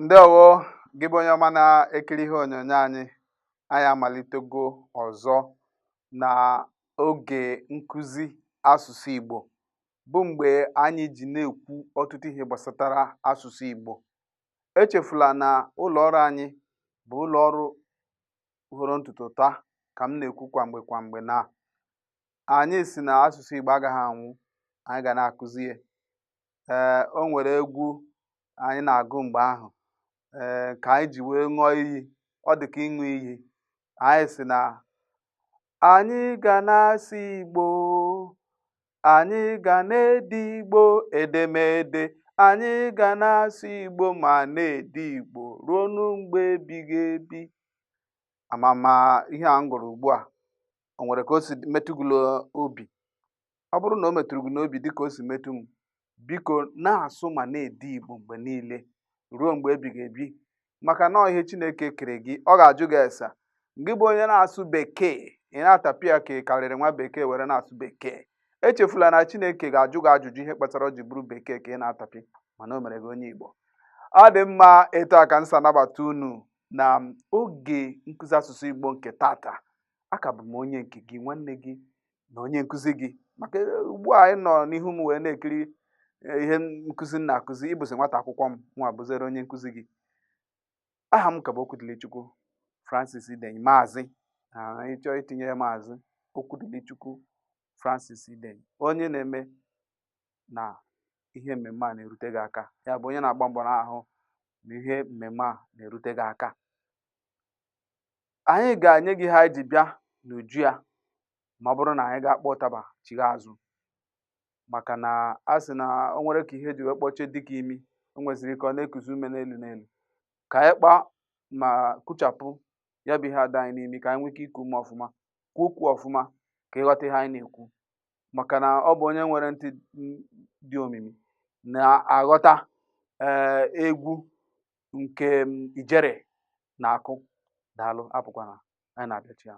ndewo gị bụ onye ọma na-ekiri ihe onyonyo anyị anyị amalitego ọzọ na oge nkụzi asụsụ Igbo bụ mgbe anyị ji na-ekwu ọtụtụ ihe gbasatara asụsụ Igbo echefula na ụlọ ọrụ anyị bụ ụlọ ọrụ hụrụ ntutu taa ka m na-ekwu kwa mgbe kwa mgbe na anyị sị na asụsụ Igbo agaghị anwụ anyị ga na-akụzi ya ee o nwere egwu anyị na-agụ mgbe ahụ ee ka anyị ji wee ṅụọ iyi ọ dị ka ịṅụ iyi anyị sị na anyị ga na-asụ Igbo anyị ga na-ede Igbo edemede anyị ga na-asụ Igbo ma na-ede Igbo ruo n'mgbe ebighị ebi ama m ma ihe a m gụrụ ugbu a o nwere ka o si metụ gị n'obi ọ bụrụ na o metụrụ gị n'obi dịka o si metụ m biko na-asụ ma na-ede igbo mgbe niile ruo mgbe ebighị ebi maka na ihe chineke kere gị ọ ga-ajụ gị ese gị bụ onye na-asụ bekee ị na-atapị ya ka ị karịrị nwa bekee were na-asụ bekee echefula na chineke ga-ajụ gị ajụjụ ihe kpatara o ji bụrụ bekee ka ị na-atapị mana o mere gị onye igbo ọ dị mma etu a ka m si anabata unu na oge nkụzi asụsụ igbo nke tata a ka bụ m onye nke gị nwanne gị na onye nkụzi gị maka e, ugbu a ị nọ n'ihu m wee na-ekiri e, ihe nkụzi m na-akụzi ị bụzi nwata akwụkwọ mụnwa bụzere onye nkụzi gị aha m ka bụ Okwudilichukwu Francis Idenyi maazị ị chọọ itinye ya maazị Okwudilichukwu Francis Idenyi onye na-eme na ihe mmemme a na-erute gị aka ya bụ onye na-agba mbọ na-ahụ na ihe mmemme a na-erute gị aka anyị ga-enye gị ihe anyị ji bịa n'uju ya ma ọ bụrụ na anyị gaa kpọọ ụtaba chigha azụ maka na a sị na o nwere ka ihe ji wee kpọchie dike imi o nweziri ka ọ na-ekuzi ume n'elu n'elu ka anyị kpaa ma kụchapụ ya bụ ihe a dị anyị n'imi ka anyị nwee ike iku ume ọfụma kwuo okwu ọfụma ka ị ghọta ihe anyị na-ekwu maka na ọ bụ onye nwere ntị dị omimi na-aghọta ee egwu nke m, ijere na-akụ daalụ apụkwana anyị na-abịachigha